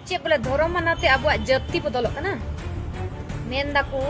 ᱪᱮᱫ ᱵᱚᱞᱮ ᱫᱷᱚᱨᱚᱢ ᱢᱟᱱᱟᱛᱮ ᱟᱵᱚᱣᱟᱜ ᱡᱟᱹᱛᱤ ᱵᱚᱫᱚᱞᱚᱜ ᱠᱟᱱᱟ ᱢᱮᱱ ᱫᱟᱠᱚ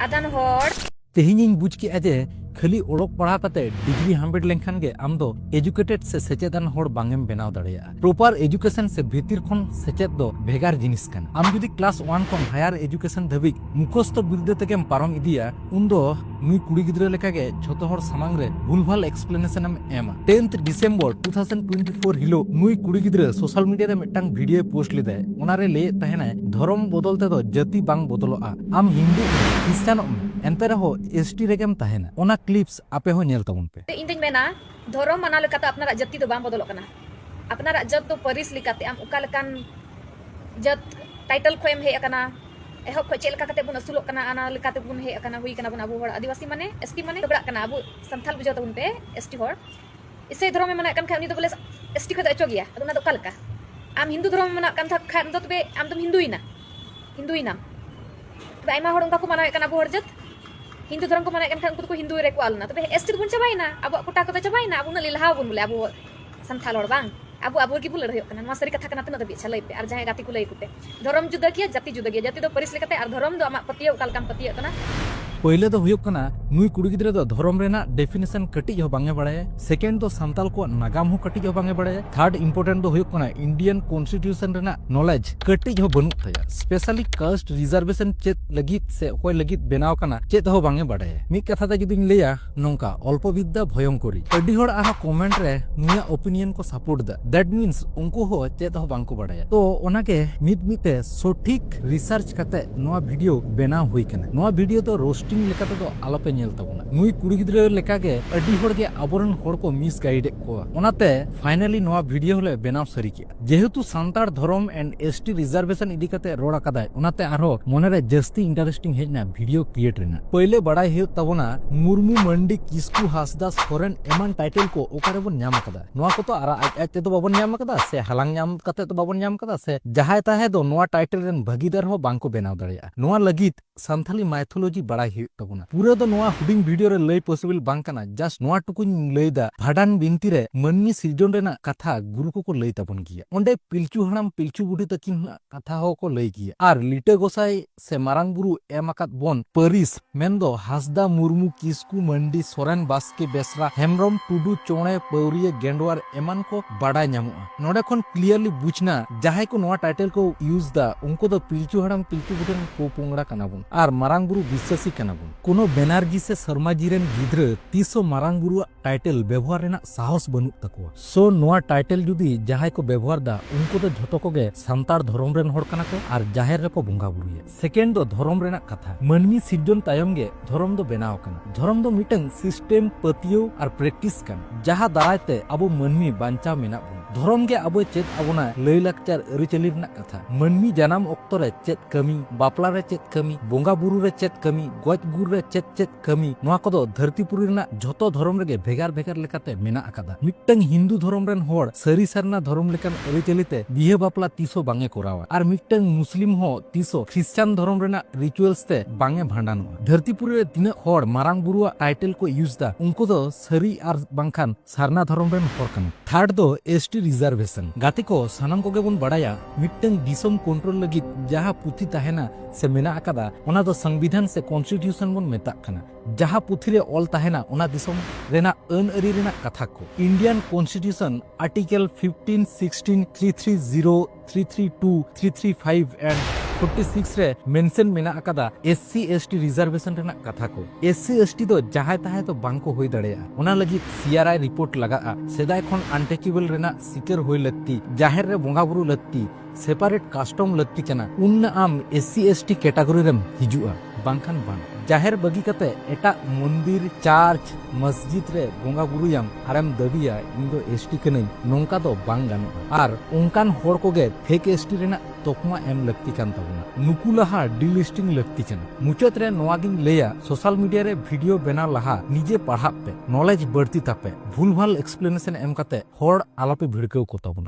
ᱟᱫᱟᱱ ᱦᱚᱲ ᱛᱮᱦᱮᱧᱤᱧ ᱵᱩᱡᱽ ᱠᱮᱜᱼᱟ ᱡᱮ ᱠᱷᱟᱹᱞᱤ ᱚᱞᱚᱜ ᱯᱟᱲᱦᱟᱣ ᱠᱟᱛᱮ ᱰᱤᱜᱽᱨᱤ ᱦᱟᱢᱮᱴ ᱞᱮᱱᱠᱷᱟᱱ ᱜᱮ ᱟᱢ ᱫᱚ ᱮᱡᱩᱠᱮᱴᱮᱰ ᱥᱮ ᱥᱮᱪᱮᱫᱟᱱ ᱦᱚᱲ ᱵᱟᱝᱮᱢ ᱵᱮᱱᱟᱣ ᱫᱟᱲᱮᱭᱟᱜᱼᱟ ᱯᱨᱚᱯᱟᱨ ᱮᱡᱩᱠᱮᱥᱚᱱ ᱥᱮ ᱵᱷᱤᱛᱤᱨ ᱠᱷᱚᱱ ᱥᱮᱪᱮᱫ ᱫᱚ ᱵᱷᱮᱜᱟᱨ ᱡᱤᱱᱤᱥ ᱠᱟᱱᱟ ᱟᱢ ᱡᱩᱫᱤ ᱠᱞᱟᱥ ᱚᱣᱟᱱ ᱠᱷᱚᱱ ᱦᱟᱭᱟᱨ ᱮᱡᱩᱠᱮᱥᱚᱱ ᱫᱷᱟᱹᱵᱤᱡ ᱢᱩᱠᱷᱚᱥᱛᱚ ᱵᱤᱨᱫᱟᱹ ᱛᱮᱜᱮᱢ ᱯᱟᱨᱚᱢ ᱤᱫᱤᱭᱟ ᱩᱱᱫᱚ ᱱᱩᱭ ᱠᱩᱲᱤ ᱜᱤᱫᱽᱨᱟᱹ ᱞᱮᱠᱟᱜᱮ ᱡᱷᱚᱛᱚ ᱦᱚᱲ ᱥᱟᱢᱟᱝ ᱨᱮ ᱵᱷᱩᱞᱵᱷᱟᱞ ᱮᱠᱥᱯᱞᱮᱱᱮᱥᱚᱱ ᱮᱢ ᱮᱢᱟ tenth December two thousand twenty four ᱦᱤᱞᱳᱜ ᱱᱩᱭ ᱠᱩᱲᱤ ᱜᱤᱫᱽᱨᱟᱹ ᱥᱳᱥᱟᱞ ᱢᱤᱰᱤᱭᱟ ᱨᱮ ᱢᱤᱫᱴᱟᱝ ᱵᱷᱤᱰᱤᱭᱳ ᱯᱳᱥᱴ ᱞᱮᱫᱟᱭ ᱚᱱᱟᱨᱮ ᱞᱟᱹᱭᱮᱫ ᱛᱟᱦᱮᱱᱟᱭ ᱫᱷᱚᱨᱚᱢ ᱵᱚᱫᱚᱞ ᱛᱮᱫᱚ ᱡᱟᱹᱛᱤ ᱵᱟᱝ ᱵᱚᱫᱚᱞᱚᱜᱼᱟ ᱟᱢ ᱦᱤᱱᱫᱩ ᱠᱷᱨᱤᱥᱴᱟᱱᱚᱜ ᱢᱮ ᱮᱱᱛᱮ ᱨᱮᱦᱚᱸ ᱮᱥ ᱴᱤ ᱨᱮᱜᱮᱢ ᱛᱟᱦᱮᱱᱟ ᱚᱱᱟ ᱠᱞᱤᱯᱥ ᱟᱯᱮ ᱦᱚᱸ ᱧᱮᱞ ᱛᱟᱵᱚᱱ ᱯᱮ ᱤᱧ ᱫᱚᱧ ᱢᱮᱱᱟ ᱫᱷᱚᱨᱚᱢ ᱢᱟᱱᱟᱣ ᱞᱮᱠᱟᱛᱮ ᱟᱯᱱᱟᱨᱟᱜ ᱡᱟᱹᱛᱤ ᱫᱚ ᱵᱟᱝ ᱵᱚᱫᱚᱞᱚᱜ ᱠᱟᱱᱟ ᱟᱯᱱᱟᱨᱟᱜ ᱡᱟᱹᱛ ᱫᱚ ᱯᱟᱹᱨᱤᱥ ᱞᱮᱠᱟᱛᱮ ᱟᱢ ᱚᱠᱟ ᱞᱮᱠᱟᱱ ᱡᱟᱹᱛ ᱴᱟᱭᱴᱮᱞ ᱠᱷᱚᱱᱮᱢ ᱦᱮᱡ ᱟᱠᱟᱱᱟ ᱮᱦᱚᱵ ᱠᱷᱚᱱ ᱪᱮᱫ ᱞᱮᱠᱟ ᱠᱟᱛᱮ ᱵᱚᱱ ᱟᱹᱥᱩᱞᱚᱜ ᱠᱟᱱᱟ ᱚᱱᱟ ᱞᱮᱠᱟ ᱛᱮᱵᱚᱱ ᱦᱮᱡ ᱟᱠᱟᱱᱟ ᱦᱩᱭ ᱠᱟᱱᱟ ᱵᱚᱱ ᱟᱵᱚ ᱦᱚᱲ ᱟᱹᱫᱤᱵᱟᱹᱥᱤ ᱢᱟᱱᱮ ᱮᱥᱴᱤ ᱢᱟᱱᱮ ᱡᱚᱜᱽᱲᱟᱜ ᱠᱟᱱᱟ ᱟᱵᱚ ᱥᱟᱱᱛᱟᱞ ᱵᱩᱡᱷᱟᱹᱣ ᱛᱟᱵᱚᱱ ᱯᱮ ᱮᱥᱴᱤ ᱦᱚᱲ ᱤᱥᱟᱹᱭ ᱫᱷᱚᱨᱚᱢ ᱮ ᱢᱟᱱᱟᱜ ᱠᱟᱱ ᱠᱷᱟᱱ ᱩᱱᱤ ᱫᱚ ᱵᱚᱞᱮ ᱮᱥᱴᱤ ᱠᱷᱚᱱ ᱫᱚ ᱚᱪᱚᱜ ᱜᱮᱭᱟ ᱟᱫᱚ ᱚᱱᱟ ᱫᱚ ᱚᱠᱟ ᱞᱮᱠᱟ ᱟᱢ ᱦᱤᱱᱫᱩ ᱫᱷᱚᱨᱚᱢ ᱢᱟᱱᱟᱜ ᱠᱟᱱ ᱠᱷᱟᱱ ᱫᱚ ᱛᱚᱵᱮ ᱟᱢ ᱫᱚᱢ ᱦᱤᱱᱫᱩᱭᱮᱱᱟ ᱦᱤᱱᱫᱩᱭᱮᱱᱟᱢ ᱛᱚᱵᱮ ᱟᱭᱢᱟ ᱦᱚᱲ ᱚᱱᱠᱟ ᱠᱚ ᱢᱟᱱᱟᱣᱮᱫ ᱠᱟᱱᱟ ᱟᱵᱚ ᱦᱚᱲ ᱡᱟᱹᱛ ᱦᱤᱱᱫᱩ ᱫᱷᱚᱨᱚᱢ ᱠᱚ ᱢᱟᱱᱟᱣᱮᱫ ᱠᱟᱱ ᱠᱷᱟᱱ ᱩᱱᱠᱩ ᱫᱚᱠᱚ ᱦᱤᱱᱫᱩ ᱨᱮᱠᱚ ᱟᱞᱱᱟ ᱛᱚᱵᱮ ᱮᱥᱴᱤ ᱫᱚᱵᱚᱱ ᱪᱟᱵᱟᱭᱮᱱᱟ ᱟᱵᱚᱣᱟᱜ ᱠᱚᱴᱟ ᱠᱚᱫᱚ ᱪᱟᱵᱟᱭᱮᱱᱟ ᱟᱵᱚ ᱩᱱᱟᱹᱜ ᱞᱮᱞᱦᱟᱣ ᱵᱚᱱ ᱵᱚᱞᱮ ᱟᱵᱚ ᱥᱟᱱᱛᱟᱲ ᱦᱚᱲ ᱵᱟᱝ ᱟᱵᱚ ᱟᱵᱚ ᱜᱮᱵᱚ ᱞᱟᱹᱲᱦᱟᱹᱭᱚᱜ ᱠᱟᱱᱟ ᱱᱚᱣᱟ ᱥᱟᱹᱨᱤ ᱠᱟᱛᱷᱟ ᱠᱟᱱᱟ ᱛᱤᱱᱟᱹᱜ ᱫᱷᱟᱹᱵᱤᱡ ᱪᱷᱟᱞᱟᱹᱭ ᱯᱮ ᱟᱨ ᱡᱟᱦᱟᱸᱭ ᱜᱟᱛᱮ ᱠᱚ ᱞᱟᱹᱭ ᱠᱚᱯᱮ ᱫᱷᱚᱨᱚᱢ ᱡᱩᱫᱟᱹ ᱜᱮᱭᱟ ᱡᱟᱹᱛᱤ ᱡᱩᱫᱟᱹ ᱜᱮᱭᱟ ᱡᱟᱹᱛᱤ ᱫᱚ ᱯᱟᱹᱨᱤᱥ ᱞᱮᱠᱟᱛᱮ ᱟᱨ ᱫᱷᱚᱨᱚᱢ ᱫᱚ ᱟᱢᱟᱜ ᱯᱟᱹᱛᱭᱟᱹᱣ ᱚᱠᱟ ᱞᱮᱠᱟᱢ ᱯᱟᱹᱛᱭᱟᱹᱜ ᱠᱟᱱᱟ ᱯᱳᱭᱞᱳ ᱫᱚ ᱦᱩᱭᱩᱜ ᱠᱟᱱᱟ ᱱᱩᱭ ᱠᱩᱲᱤ ᱜᱤᱫᱽᱨᱟᱹ ᱫᱚ ᱫᱷᱚᱨᱚᱢ ᱨᱮᱱᱟᱜ ᱰᱮᱯᱷᱤᱱᱮᱥᱚᱱ ᱠᱟᱹᱴᱤᱡ ᱦᱚᱸ ᱵᱟᱝ ᱮ ᱵᱟᱲᱟᱭᱟ ᱥᱮᱠᱮᱱᱰ ᱫᱚ ᱥᱟᱱᱛᱟᱲ ᱠᱚᱣᱟᱜ ᱱᱟᱜᱟᱢ ᱦᱚᱸ ᱠᱟᱹᱴᱤᱡ ᱦᱚᱸ ᱵᱟᱝ ᱮ ᱵᱟᱲᱟᱭᱟ ᱛᱷᱟᱨᱰ ᱤᱢᱯᱚᱨᱴᱮᱱᱴ ᱫᱚ ᱦᱩᱭᱩᱜ ᱠᱟᱱᱟ ᱤᱱᱰᱤᱭᱟᱱ ᱠᱚᱱᱥᱴᱤᱴᱤᱭᱩᱥᱚᱱ ᱨᱮᱱᱟᱜ ᱱᱚᱞᱮᱡᱽ ᱠᱟᱹᱴᱤᱡ ᱦᱚᱸ ᱵᱟᱹᱱᱩᱜ ᱛᱟᱭᱟ ᱥᱯᱮᱥᱟᱞᱤ ᱠᱟᱥᱴ ᱨᱤᱡᱟᱨᱵᱷᱮᱥᱚᱱ ᱪᱮᱫ ᱞᱟᱹᱜᱤᱫ ᱥᱮ ᱚᱠᱚᱭ ᱞᱟᱹᱜᱤᱫ ᱵᱮᱱᱟᱣ ᱠᱟᱱᱟ ᱪᱮᱫ ᱦᱚᱸ ᱵᱟᱝ ᱮ ᱵᱟᱲᱟᱭᱟ ᱢᱤᱫ ᱠᱟᱛᱷᱟ ᱛᱮ ᱡᱩᱫᱤᱧ ᱞᱟᱹᱭᱟ ᱱᱚᱝᱠᱟ ᱚᱞᱯᱚ ᱵᱤᱫᱽᱫᱟ ᱵᱷᱚᱭᱚᱝᱠᱚᱨᱤ ᱟᱹᱰᱤ ᱦᱚᱲ ᱟᱨᱦᱚᱸ ᱠᱚᱢᱮᱱᱴ ᱨᱮ ᱱᱩᱭᱟᱜ ᱚᱯᱤᱱᱤᱭᱚᱱ ᱠᱚ ᱥᱟᱯᱳᱨᱴ ᱫᱟ ᱫᱮᱴ ᱢᱤᱱᱥ ᱩᱱᱠᱩ ᱦᱚᱸ ᱪᱮᱫ ᱦᱚᱸ ᱵᱟᱝᱠᱚ ᱵᱟᱲᱟᱭᱟ ᱛᱚ ᱚᱱᱟᱜᱮ ᱢᱤᱫ ᱢᱤᱫ ᱛᱮ ᱥᱚᱴᱷᱤᱠ ᱨᱤᱥᱟᱨᱪ ᱠᱟᱛᱮ ᱱᱚᱣᱟ ᱵᱷᱤᱰᱤᱭᱳ ᱵᱮᱱᱟᱣ ᱦᱩᱭ ᱠᱟᱱᱟ ᱱᱚᱣᱟ ᱵᱷᱤᱰᱤᱭᱳ ᱫᱚ ᱨᱳᱥᱴᱤᱝ ᱞᱮᱠᱟ ᱛᱮᱫᱚ ᱟᱞᱚᱯᱮ ᱧᱮᱞ ᱛᱟᱵᱚᱱᱟ ᱱᱩᱭ ᱠᱩᱲᱤ ᱜᱤᱫᱽᱨᱟᱹ ᱞᱮᱠᱟ ᱜᱮ ᱟᱹᱰᱤ ᱦᱚᱲ ᱜᱮ ᱟᱵᱚᱨᱮᱱ ᱦᱚᱲ ᱠᱚ ᱢᱤᱥᱜᱟᱭᱤᱰ ᱮᱫ ᱠᱚᱣᱟ ᱚᱱᱟᱛᱮ ᱯᱷᱟᱭᱱᱟᱞᱤ ᱱᱚᱣᱟ ᱵᱷᱤᱰᱤᱭᱳ ᱦᱚᱞᱮ ᱵᱮᱱᱟᱣ ᱥᱟᱹᱨᱤ ᱠᱮᱫᱼᱟ ᱡᱮᱦᱮᱛᱩ ᱥᱟᱱᱛᱟᱲ ᱫᱷᱚᱨᱚᱢ ᱮᱱᱰ ᱮᱥ ᱴᱤ ᱨᱤᱡᱟᱨᱵᱷᱮᱥᱚᱱ ᱤᱫᱤ ᱠᱟᱛᱮ ᱨᱚᱲ ᱟᱠᱟᱫᱟᱭ ᱚᱱᱟᱛᱮ ᱟᱨᱦᱚᱸ ᱢᱚᱱᱮᱨᱮ ᱡᱟᱹᱥᱛᱤ ᱤᱱᱴᱟᱨᱮᱥᱴᱤᱝ ᱦᱮᱡ ᱮᱱᱟ ᱵᱷᱤᱰᱤᱭᱳ ᱠᱨᱤᱭᱮᱴ ᱨᱮᱱᱟᱜ ᱯᱟᱹᱭᱞᱟᱹ ᱵᱟᱲᱟᱭ ᱦᱩᱭᱩᱜ ᱛᱟᱵᱚᱱᱟ ᱢᱩᱨᱢᱩ ᱢᱟᱱᱰᱤ ᱠᱤᱥᱠᱩ ᱦᱟᱸᱥᱫᱟ ᱥᱚᱨᱮᱱ ᱮᱢᱟᱱ ᱴᱟᱭᱴᱮᱞ ᱠᱚ ᱚᱠᱟᱨᱮ ᱵᱚᱱ ᱧᱟᱢ ᱟᱠᱟᱫᱟ ᱱᱚᱣᱟ ᱠᱚ ᱛᱚ ᱟᱨ ᱟᱡ ᱟᱡ ᱛᱮᱫᱚ ᱵᱟᱵᱚᱱ ᱧᱟᱢ ᱟᱠᱟᱫᱟ ᱥᱮ ᱦᱟᱞᱟᱝ ᱧᱟᱢ ᱠᱟᱛᱮ ᱫᱚ ᱵᱟᱵᱚᱱ ᱧᱟᱢ ᱟᱠᱟᱫᱟ ᱥᱮ ᱡᱟᱦᱟᱸᱭ ᱛᱟᱦᱮᱸ ᱫᱚ ᱱᱚᱣᱟ ᱴᱟᱭᱴᱮᱞ ᱨᱮᱱ ᱵᱷᱟᱹᱜᱤᱫᱟᱨ ᱦᱚᱸ ᱵᱟᱝ ᱠᱚ ᱵᱮᱱᱟᱣ ᱫᱟᱲᱮᱭᱟᱜᱼᱟ ᱱᱚᱣᱟ ᱞᱟᱹᱜᱤᱫ ᱥᱟᱱᱛᱷᱟᱞᱤ ᱢᱟᱭᱛᱷᱳᱞᱚᱡᱤ ᱵᱟᱲᱟᱭ ᱦᱩᱭᱩᱜ ᱛᱟᱵᱚᱱᱟ᱾ ᱯᱩᱨᱟᱹ ᱫᱚ ᱱᱚᱣᱟ ᱦᱩᱰᱤᱧ ᱵᱷᱤᱰᱤᱭᱳ ᱨᱮ ᱞᱟᱹᱭ ᱯᱚᱥᱤᱵᱤᱞ ᱵᱟᱝ ᱠᱟᱱᱟ ᱡᱟᱥᱴ ᱱᱚᱣᱟ ᱴᱩᱠᱩᱧ ᱞᱟᱹᱭ ᱫᱟ ᱵᱷᱟᱰᱟᱱ ᱵᱤᱱᱛᱤ ᱨᱮ ᱢᱟᱹᱱᱢᱤ ᱥᱤᱨᱡᱚᱱ ᱨᱮᱱᱟᱜ ᱠᱟᱛᱷᱟ ᱜᱩᱨᱩ ᱠᱚ ᱠᱚ ᱞᱟᱹᱭ ᱛᱟᱵᱚᱱ ᱜᱮᱭᱟ ᱚᱸᱰᱮ ᱯᱤᱞᱪᱩ ᱦᱟᱲᱟᱢ ᱯᱤᱞᱪᱩ ᱵᱩᱰᱷᱤ ᱛᱟᱹᱠᱤᱱ ᱟᱜ ᱠᱟᱛᱷᱟ ᱦᱚᱸ ᱠᱚ ᱞᱟᱹᱭ ᱜᱮᱭᱟ ᱟᱨ ᱞᱤᱴᱟᱹ ᱜᱚᱥᱟᱭ ᱥᱮ ᱢᱟᱨᱟᱝ ᱵᱩᱨᱩ ᱮᱢ ᱟᱠᱟᱫ ᱵᱚᱱ ᱯᱟᱹᱨᱤᱥ ᱢᱮᱱ ᱫᱚ ᱦᱟᱸᱥᱫᱟ ᱢᱩᱨᱢᱩ ᱠᱤᱥᱠᱩ ᱢᱟᱹᱱᱰᱤ ᱥᱚᱨᱮᱱ ᱵᱟᱥᱠᱮ ᱵᱮᱥᱨᱟ ᱦᱮᱢᱵᱨᱚᱢ ᱴᱩᱰᱩ ᱪᱚᱬᱮ ᱯᱟᱹᱣᱨᱤᱭᱟᱹ ᱜᱮᱸᱰᱣᱟᱨ ᱮᱢᱟᱱ ᱠᱚ ᱵᱟᱰᱟᱭ ᱧᱟᱢᱚᱜᱼᱟ᱾ ᱱᱚᱰᱮ ᱠᱷᱚᱱ ᱠᱞᱤᱭᱟᱨᱞᱤ ᱵᱩᱡᱽᱱᱟ ᱡᱟᱦᱟᱸᱭ ᱠᱚ ᱱᱚᱣᱟ ᱴᱟᱭᱴᱮᱞ ᱠᱚ ᱤᱭᱩᱡᱽ ᱫᱟ ᱩᱱᱠᱩ ᱫᱚ ᱯᱤᱞᱪᱩ ᱦᱟᱲᱟᱢ ᱯᱤᱞᱪᱩ ᱵᱩᱰᱷᱤ ᱨᱮᱱ ᱯᱚᱯᱚᱝᱲᱟ ᱠᱟᱱᱟ ᱵᱚᱱ ᱟᱨ ᱢᱟᱨᱟᱝ ᱵᱩᱨᱩ ᱵᱤᱥᱥᱟᱥᱤ ᱠᱟᱱᱟ ᱵᱚᱱ᱾ ᱠᱳᱱᱳ ᱵᱮᱱᱟᱨᱡᱤ ᱥᱮ ᱥᱚᱨᱢᱟ ᱡᱤ ᱨᱮᱱ ᱜᱤᱫᱽᱨᱟᱹ ᱛᱤᱥ ᱦᱚᱸ ᱢᱟᱨᱟᱝ ᱵᱩᱨᱩ ᱟᱜ ᱴᱟᱭᱴᱮᱞ ᱵᱮᱵᱚᱦᱟᱨ ᱨᱮᱱᱟᱜ ᱥᱟᱦᱚᱥ ᱵᱟᱹᱱᱩᱜ ᱛᱟᱠᱚᱣᱟ᱾ ᱥᱳ ᱱᱚᱣᱟ ᱴᱟᱭᱴᱮᱞ ᱡᱩᱫᱤ ᱡᱟᱦᱟᱸᱭ ᱠᱚ ᱵᱮᱵᱚᱦᱟᱨ ᱫᱟ ᱩᱱᱠᱩ ᱫᱚ ᱡᱷᱚᱛᱚ ᱠᱚᱜᱮ ᱥᱟᱱᱛᱟᱲ ᱫᱷᱚᱨᱚᱢ ᱨᱮᱱ ᱦᱚᱲ ᱠᱟᱱᱟ ᱠᱚ ᱟᱨ ᱡᱟᱦᱮᱨ ᱨᱮᱠᱚ ᱵᱚᱸᱜᱟ ᱵᱩᱨᱩᱭᱟ᱾ ᱥᱮᱠᱮᱱᱰ ᱫᱚ ᱫᱷᱚᱨᱚᱢ ᱨᱮᱱᱟᱜ ᱠᱟᱛᱷᱟ ᱢᱟᱹᱱᱢᱤ ᱥᱤᱨᱡᱚᱱ ᱛᱟᱭᱚᱢ ᱜᱮ ᱫᱷᱚᱨᱚᱢ ᱫᱚ ᱵᱮᱱᱟᱣ ᱟᱠᱟᱱᱟ ᱫᱷᱚᱨᱚᱢ ᱫᱚ ᱢᱤᱫᱴᱟᱝ ᱥᱤᱥᱴᱮᱢ ᱯᱟᱹᱛᱭᱟᱹᱣ ᱟᱨ ᱯᱨᱮᱠᱴᱤᱥ ᱠᱟᱱ ᱡᱟᱦᱟᱸ ᱫᱟᱨᱟᱭ ᱛᱮ ᱟᱵᱚ ᱢᱟᱹᱱᱢᱤ ᱵᱟᱧᱪᱟᱣ ᱢᱮᱱᱟᱜ ᱵᱚᱱ ᱫᱷᱚᱨᱚᱢ ᱜᱮ ᱟᱵᱚᱭ ᱪᱮᱫ ᱟᱵᱚᱱᱟ ᱞᱟᱹᱭ ᱞᱟᱠᱪᱟᱨ ᱟᱹᱨᱤᱪᱟᱹᱞᱤ ᱨᱮᱱᱟᱜ ᱠᱟᱛᱷᱟ ᱢᱟᱹᱱᱢᱤ ᱡᱟᱱᱟᱢ ᱚᱠᱛᱚ ᱨᱮ ᱪᱮᱫ ᱠᱟᱹᱢᱤ ᱵᱟᱯᱞᱟ ᱨᱮ ᱪᱮᱫ ᱠᱟᱹᱢᱤ ᱵᱚᱸᱜᱟ ᱵᱩᱨᱩ ᱨᱮ ᱪᱮᱫ ᱠᱟᱹᱢᱤ ᱜᱚᱡ ᱜᱩᱨ ᱨᱮ ᱪᱮᱫ ᱪᱮᱫ ᱠᱟᱹᱢᱤ ᱱᱚᱣᱟ ᱠᱚᱫᱚ ᱫᱷᱟᱹᱨᱛᱤᱯᱩᱨᱤ ᱨᱮᱱᱟᱜ ᱡᱷᱚᱛᱚ ᱫᱷᱚᱨᱚᱢ ᱨᱮᱜᱮ ᱵᱷᱮᱜᱟᱨ ᱵᱷᱮᱜᱟᱨ ᱞᱮᱠᱟᱛᱮ ᱢᱮᱱᱟᱜ ᱟᱠᱟᱫᱟ ᱢᱤᱫᱴᱟᱝ ᱦᱤᱱᱫᱩ ᱫᱷᱚᱨᱚᱢ ᱨᱮᱱ ᱦᱚᱲ ᱥᱟᱹᱨᱤ ᱥᱟᱨᱱᱟ ᱫᱷᱚᱨᱚᱢ ᱞᱮᱠᱟᱱ ᱟᱹᱨᱤᱪᱟᱹᱞᱤ ᱛᱮ ᱵᱤᱦᱟᱹ ᱵᱟᱯᱞᱟ ᱛᱤᱥ ᱦᱚᱸ ᱵᱟᱝ ᱮ ᱠᱚᱨᱟᱣᱟ ᱟᱨ ᱢᱤᱫᱴᱟᱝ ᱢᱩᱥᱞᱤᱢ ᱦᱚᱸ ᱛᱤᱥ ᱦᱚᱸ ᱠᱷᱨᱤᱥᱪᱟᱱ ᱫᱷᱚᱨᱚᱢ ᱨᱮᱱᱟᱜ ᱨᱤᱪᱩᱣᱟᱞᱥ ᱛᱮ ᱵᱟᱝ ᱮ ᱵᱷᱟᱸᱰᱟᱱᱚᱜᱼᱟ ᱫᱷᱟᱹᱨᱛᱤᱯᱩᱨᱤ ᱨᱮ ᱛᱤᱱᱟᱹᱜ ᱦᱚᱲ ᱢᱟᱨᱟᱝ ᱵᱩᱨᱩᱣᱟᱜ ᱴᱟᱭᱴᱮᱞ ᱠᱚ ᱤᱭᱩᱡᱽ ᱫᱟ ᱩᱱᱠᱩ ᱫᱚ ᱥᱟᱹᱨᱤ ᱟᱨ ᱵᱟᱝᱠᱷᱟᱱ ᱥᱟᱨᱱᱟ ᱫᱷᱚᱨᱚᱢ ᱨᱮᱱ ᱦᱚᱲ ᱠᱟᱱᱟ ᱛᱷᱟᱨᱰ ᱫᱚ ᱮᱥᱴᱤ ᱨᱤᱡᱟᱨᱵᱷᱮᱥᱚᱱ ᱜᱟᱛᱮ ᱠᱚ ᱥᱟᱱᱟᱢ ᱠᱚᱜᱮ ᱵᱚᱱ ᱵᱟᱲᱟᱭᱟ ᱢᱤᱫᱴᱟᱝ ᱫᱤᱥᱚᱢ ᱠᱚᱱᱴᱨᱳᱞ ᱞᱟᱹᱜᱤᱫ ᱡᱟᱦᱟᱸ ᱯᱩᱛᱷᱤ ᱛᱟᱦᱮᱱᱟ ᱥᱮ ᱢᱮᱱᱟᱜ ᱟᱠᱟᱫᱟ ᱚᱱᱟ ᱫᱚ ᱥᱚᱝᱵᱤᱫᱷᱟᱱ ᱥᱮ ᱠᱚᱱᱥᱴᱤᱴᱤᱭᱩᱥᱚᱱ ᱵᱚᱱ ᱢᱮᱛᱟᱜ ᱠᱟᱱᱟ ᱡᱟᱦᱟᱸ ᱯᱩᱛᱷᱤ ᱨᱮ ᱚᱞ ᱛᱟᱦᱮᱱᱟ ᱚᱱᱟ ᱫᱤᱥᱚᱢ ᱨᱮᱱᱟᱜ ᱟᱹᱱ ᱟᱹᱨᱤ ᱨᱮᱱᱟᱜ ᱠᱟᱛᱷᱟ ᱠᱚ Indian constitution article fifteen sixteen three three zero 332, 335 and 46 ᱨᱮ ᱢᱮᱱᱥᱮᱱ ᱢᱮᱱᱟᱜ ᱟᱠᱟᱫᱟ ᱮᱥᱥᱤ ᱮᱥᱴᱤ ᱨᱤᱡᱟᱨᱵᱷᱮᱥᱚᱱ ᱨᱮᱱᱟᱜ ᱠᱟᱛᱷᱟ ᱠᱚ ᱮᱥᱥᱤ ᱮᱥᱴᱤ ᱫᱚ ᱡᱟᱦᱟᱸᱭ ᱛᱟᱦᱮᱸ ᱫᱚ ᱵᱟᱝ ᱠᱚ ᱦᱩᱭ ᱫᱟᱲᱮᱭᱟᱜᱼᱟ ᱚᱱᱟ ᱞᱟᱹᱜᱤᱫ ᱥᱤᱟᱨᱟᱭ ᱨᱤᱯᱳᱨᱴ ᱞᱟᱜᱟᱜᱼᱟ ᱥᱮᱫᱟᱭ ᱠᱷᱚᱱ ᱟᱱᱴᱮᱪᱮᱵᱮᱞ ᱨᱮᱱᱟᱜ ᱥᱤᱠᱟᱹᱨ ᱦᱩᱭ ᱞᱟᱹᱠᱛᱤ ᱡᱟᱦᱮᱨ ᱨᱮ ᱵᱚᱸᱜᱟ ᱵᱩᱨᱩ ᱞᱟᱹᱠᱛᱤ ᱥᱮᱯᱟᱨᱮᱴ ᱠᱟᱥᱴᱚᱢ ᱞᱟᱹᱠᱛᱤ ᱠᱟᱱᱟ ᱩᱱ ᱟᱢ ᱮᱥᱥᱤ ᱮᱥᱴᱤ ᱠᱮᱴᱟᱜᱚᱨᱤ ᱨᱮᱢ ᱦᱤᱡᱩᱜᱼᱟ ᱵᱟᱝᱠᱷᱟᱱ ᱵᱟᱝ ᱡᱟᱦᱮᱨ ᱵᱟᱹᱜᱤ ᱠᱟᱛᱮ ᱮᱴᱟᱜ ᱢᱚᱱᱫᱤᱨ ᱪᱟᱨᱪ ᱢᱚᱥᱡᱤᱫ ᱨᱮ ᱵᱚᱸᱜᱟ ᱵᱩᱨᱩᱭᱟᱢ ᱟᱨᱮᱢ ᱫᱟᱹᱵᱤᱭᱟ ᱤᱧ ᱫᱚ ᱮᱥᱴᱤ ᱠᱟᱹᱱᱟᱹᱧ ᱱᱚᱝᱠᱟ ᱫᱚ ᱵᱟᱝ ᱜᱟᱱᱚᱜᱼᱟ ᱟᱨ ᱚᱱᱠᱟᱱ ᱦᱚᱲ ᱠᱚᱜᱮ ᱯᱷᱮᱠ ᱮᱥᱴᱤ ᱨᱮᱱᱟᱜ ᱛᱚᱠᱢᱟ ᱮᱢ ᱞᱟᱹᱠᱛᱤ ᱠᱟᱱ ᱛᱟᱵᱚᱱᱟ ᱱᱩᱠᱩ ᱞᱟᱦᱟ ᱰᱤᱞᱤᱥᱴᱤᱝ ᱞᱟᱹᱠᱛᱤ ᱠᱟᱱᱟ ᱢᱩᱪᱟᱹᱫ ᱨᱮ ᱱᱚᱣᱟ ᱜᱤᱧ ᱞᱟᱹᱭᱟ ᱥᱳᱥᱟᱞ ᱢᱤᱰᱤᱭᱟ ᱨᱮ ᱵᱷᱤᱰᱤᱭᱳ ᱵᱮᱱᱟᱣ ᱞᱟᱦᱟ ᱱᱤᱡᱮ ᱯᱟᱲᱦᱟᱜ ᱯᱮ ᱱᱚᱞᱮᱡᱽ ᱵᱟᱹᱲᱛᱤ ᱛᱟᱯᱮ ᱵᱷᱩᱞᱵᱷᱟᱞ ᱮᱠᱥᱯᱞᱮᱱᱮᱥᱚᱱ ᱮᱢ ᱠᱟᱛᱮ ᱦᱚᱲ ᱟᱞᱚᱯᱮ ᱵᱷᱤᱲᱠᱟᱹᱣ ᱠᱚ ᱛᱟᱵᱚᱱᱟ